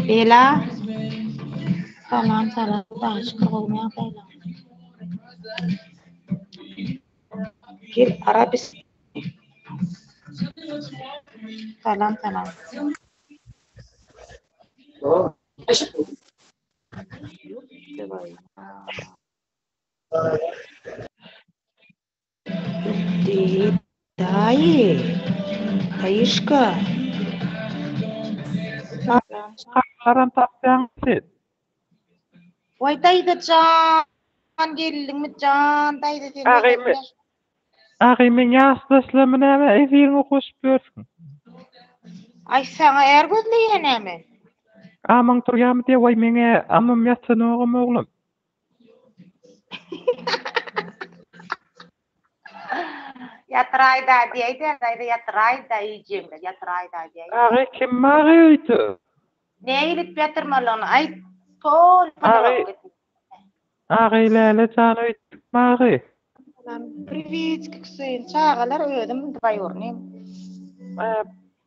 Ela Salam salam başka bolmaýar salam. Gel Arabis Salam salam. Gitdi daýy. Daýyşka. Çaklaram tapýaňmy siz? Waý daýza jan geldiňmi jan daýza sen nähili. Agy men ýaş daşlamy näme efiriňe goşup ýörsüň. Aý saňa är gözleýä näme. Amaň turýamy diýýä waý meň amym ýatanogam oglum. Ýatyraý da diýäý de, gaýra ýatyraý da iýjegim bar, ýatyraý da diýäý. Agy kim magy öýte? Näme edip ýatyrmalygyny aýt, toly monolog et. Agy Läle jan öýtdük magy. Salam, priwitki Hüseýin çagalar özüm dwaýurnyým.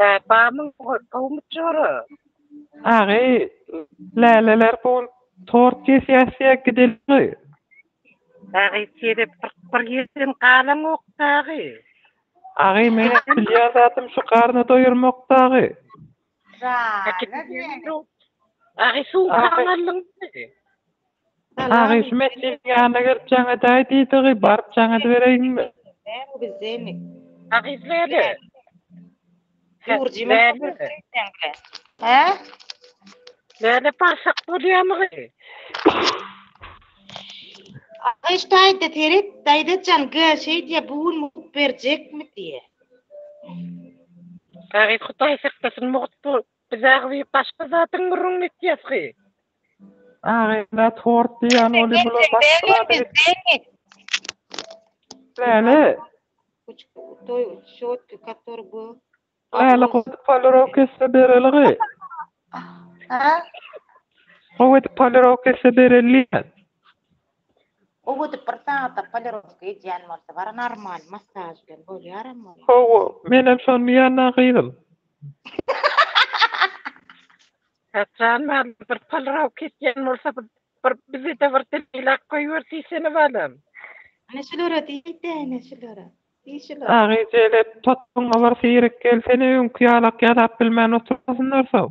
Hä, barmyň towy muçjora? Agy, läleler bugün tort kesýäs diýä gideliňoý. Agy, serep kyrk bir ýyldan galaňokdagy. Agy, meniň bilýän zadym şu garny doýurmakdagy. Agy, suw gaňarlyňmy? Agyşym etdigiň ýanyna gelip jaň edäý diýdigi, baryp jaň edibereýinmi? Agyş näme? Hä? Näme başak bolýamygy? Agyş daýza seret, daýzajan gö şeýdýä bu gün mugt berjekmi diýýä. Agyş hudaý saklasyn mugt Biz agzy başga zadyň gürrüňini etýäsgi. Agynda tort diýýän ol bular başga zady. Läle. Toý şotki kator bu. Läle gowy polirok etse bereligi. Ha? Gowy polirok etse bereligi. Gowy edip bir sagata polirowka edýän bolsa bar normal massaj bilen bolýaram ol. Hawa menem şony diýýänä gyzym. Haçan maňa bir polirowka edýän bolsa bir bizede bir dilak goýber diýsene balam. Ana şulara diýde ene şulara. Diý şulara. Agyjele potpuňa bir syrek gelsene öňki ýalak ýadap bilmän oturmasynlar soň.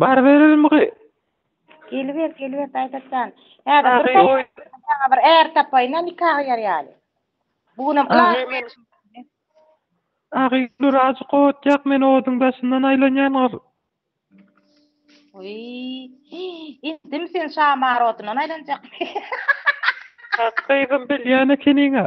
Baryberelimigy? Geliber, geliber Daýzat jan. Häzir bir Agy, oý. saňa bir är tapaýyn-a nika gyýar ýaly. Bu günem Agy, gylaw men- Agy, dur azjyk ot ýak, men oduň daşyndan aýlanýan gyr. Wiý, indimi sen şamar odundan aýlanjakmy? Hak gyzym, bilýän ekeniň-a.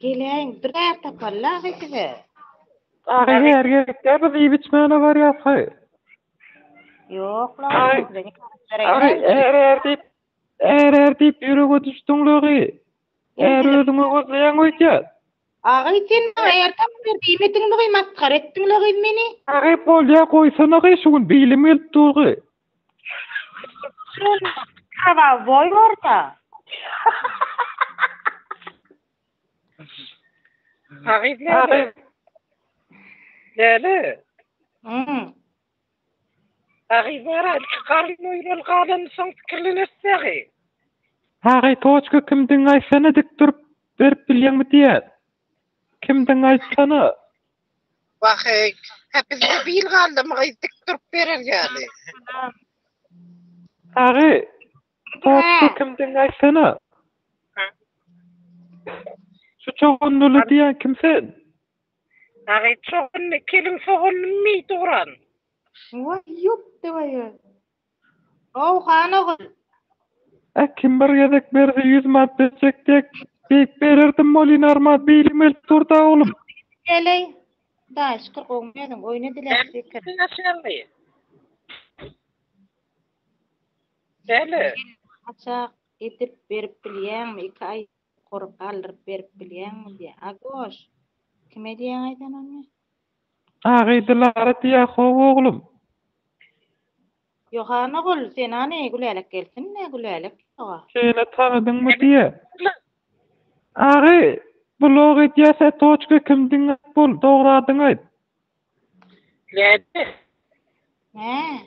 Geleýin, bir zat tapaly agy size. Agy her ýerlikde biz iýip içmäne barýas haý. Ýok la. Är är diýip, är är diýip ýürege düşdüň lagy. Är özüňe gözleýäň öýdýän. Agy sen maňa är tap ber diýmediňmi masgara etdiň lagy meni. Agy bolýa goýsana gaý şu gün bilim gelip durgy. Karawoý orta. Hakyt näme? Näme? Hmm. Hakyt bara çykaryň öýrel galan soň pikirleneris dagy. Hakyt toçka kimdigiňi aýtsana dik durup berip bilýäňmi diýýän. Kimdigiňi aýtsana. Wahey, hä bizde bir ýyl galdymy gyz dik durup berer ýaly. Sagy, topda kim diňe aýtsana. Şu çogunlyly diýen kim sen? Sagy, çogunly kelin sogunlymy duran. Waý ýok dewaya. How han ogul. Äh kim bir gezek berse ýüz manat berjek dek diýip bererdim welin arman bilim gelip durda oglum. Beleý daýy şükür gowymy özüň oýna dileg pikir. Sen kimsiň Şerli? Şerli. Haçak edip berip bilýäňmi iki aý. Gury galdyryp berip bilýäňmi diýýä. Agoş! Kime diýýäň aýdan ony? Agy Dilara diýýä how oglum. Ýohan ogul, sen hany Gülälek gelsin-le, Gülälek ýoga. Şeýle tanadyňmy diýýä. Agy, blog edýäs-ä toçka kim diňläp bol, dogradyňy aýt. Näde? Nä?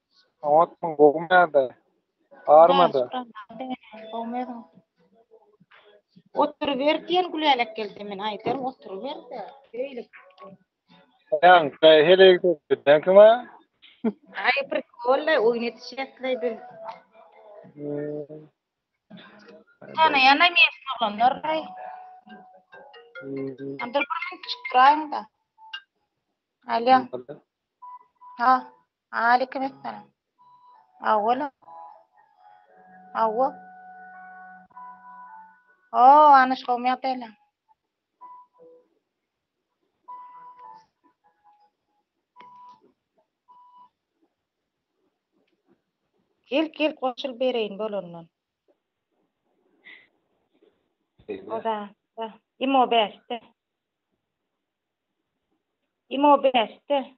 Oňat mı? Gowmy ýagdaý? Barmada? Gowmydyň? Oturyber diýen Gülälek gelse men aýdaryn oturyberde. Öýlik. Ýaň, çaý heleýi köpden kime? Aý bir golla oýun etişekleý biz. Hmm. Sana yana men oglanlar aý. Hmm. Andyr bir men çykraýyň da. Alýan. Ha. Aleýkum essalam. Awwalam. Awwa. O, anyş gowmy ýagdaýlaň? Gel, gel goşul bereýin bolandan. Oda, da. Imo bäşde. Imo bäşde.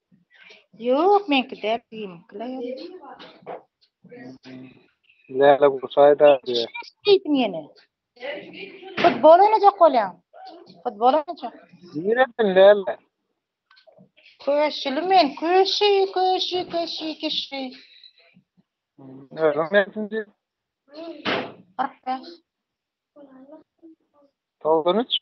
Ýok, meňki däl, kiýmiňkiler ýaly. Läle gurşaýda diýer. Diýdim ýene. Futbol oýnajak bolýaň. Futbol oýnajak. Diýerdim läle. Köşüli men, köşi, köşi, köşi, köşi. Özüm ne için diýip? Arkadaş. Tolgun iç.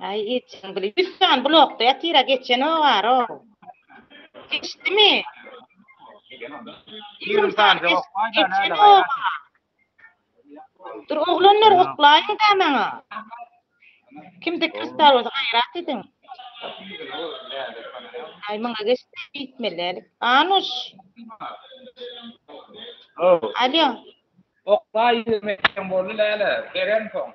Ay geçen bile yüz sany blokda yatyra geçen o var o. Geçti mi? Yirmi sany geç, geçen o var. Dur oğlanlar oklayın da bana. Kimde kristal olsa hayrat edin. Ay bana geçti gitmeli. Anuş. Alo. Oklay yirmi boldu lele. Beren son.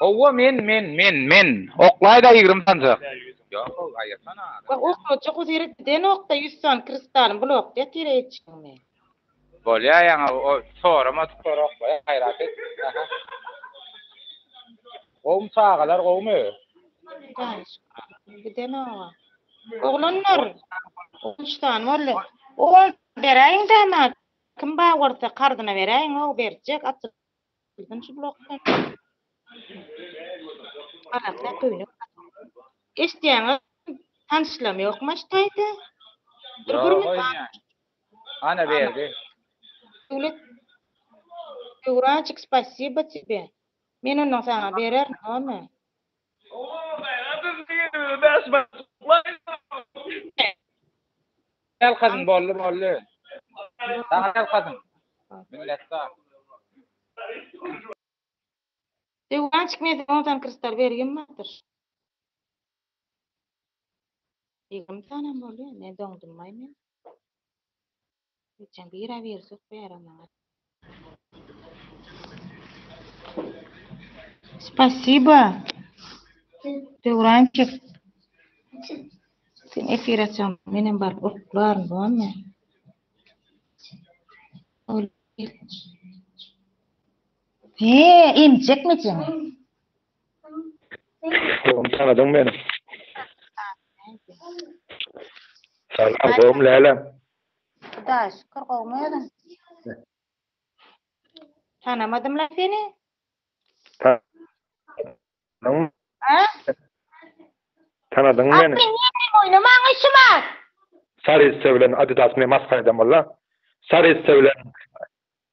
Howwa men men men men oklaýda ýigrimi sanjak. Wah oklajak o ýere gidenokda ýüz sany kristalym blokda ýatyr eýjikmi. Bolýa ýaňa o soramadyk sor oklaýa gaýrat et aha. Gowmy çagalar gowmy. Gidenoga. Oglanlar on üç sany boldy. Oglana beräýiňdä maňa kim bar bolsa karzyna beräýiň o berjek. Birinji blokda. Arakda köýnek. Eşdýäňiz? Tanşlam ýokmy aştaýda? Bir gürmüň. Ana berdi. Döwlet. Döwraçyk, spasiba tipe. Men ondan saňa berer, näme? Ýalkasyn boldy boldy. Saňa ýalkasyn. Minnetdar. Öwgançyk men size on sany krystal bergim bardyr. Ýigrimi sanam boldy, ne doňdummaý men. Geçen bira birjik bera maňa. Spasiba. Döwrançyk. Sen efir açaň, menem baryp oklaryn, bolmy? Ol. He, emjekmi sen? Oglum tanadyň meni. Salam, oglum Läle. Hudaýa şükür gowmy özüň? Tanamadym la seni. Ta A? Tanadyň meni. Asyl näme oýna maňa işi bar. Sary esse bilen Adidas ne masgara edem walla. Sary esse bilen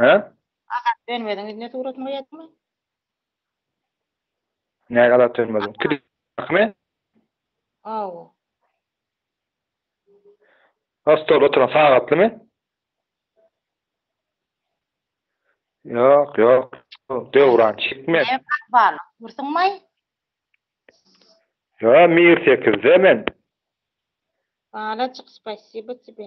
Hä? Azat Dönmeziň ýüzüne suratyny goýadyňmy? Näge Azat Dönmeziň? Klipmi? Hawa. Ha stolda oturan sagatlymy? Ýok, ýok. Döwran çekmez. Ne bar? Dursuňmy? Ýa Mir 8-de men. Balajyk, spasibo tebe.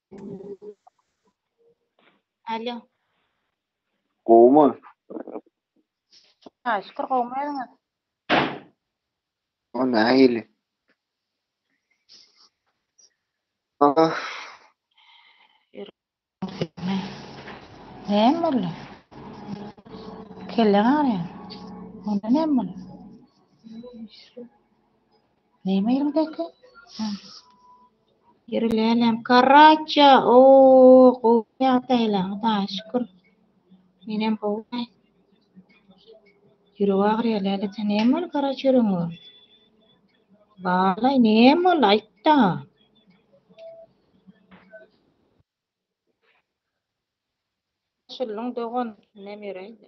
Alo. Gowmy? Ha, şükür gowmy özüňiz? O nähili? Ah. Näme boldy? Kelleň agyrýar. Onda näme boldy? Näme ýeriňdäki? Hä. Ýeri lälem karraçja. O, gowy ýagdaýla, Hudaýa şükür. Menem gowy. Ýüregi agyrýar läleje. Näme boldy karraç ýüregiňe? Balaý, näme boldy, aýt-da. Goşuldyň dogan, näme ýöräýdi?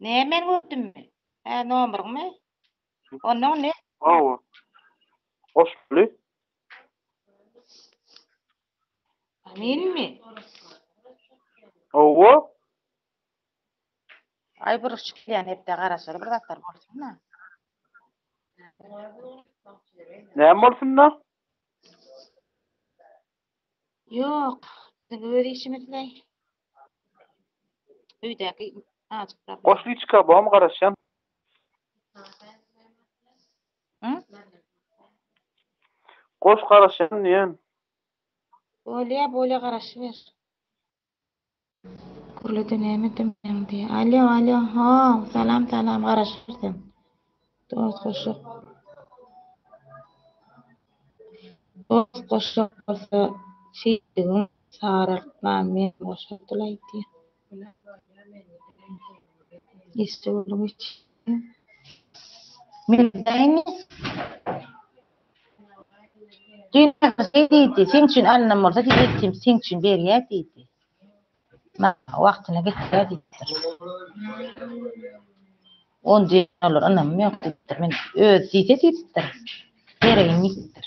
Näme men gördümmi? Hä, nomuryňmy? Onnoň ne? Hawa. Goşguly. Menmi? Hawa. Aý buruş çykýan hepde garaşaly bir zatlar bolsun-da. Näme bolsun-da? Ýok, biziň öz işimiz-le. Öýdäki ajyklar. Goşlyçka bom garaşýan. Hı? Goş garaşýan diýen. Bolýa, bolýa garaşyber. Gürledi näme diýmeň diýýä. Alýo, alýo. Ho, salam, salam. Garaşyber sen. Dost goşluk. Dost goşluk bolsa şeýtdigin sarartman men goşardyl aýtýa. Işde boluň iç. Men daýmy? Düýn şeý diýdi, seň üçin alynam bolsa diýdi, sen üçin berýär diýdi. Maňa wagtyna getir-ä diýipdir. Ony diýen olar ynamym ýok diýipdir. Men özi diýse diýipdir. Geregim ýitipdir.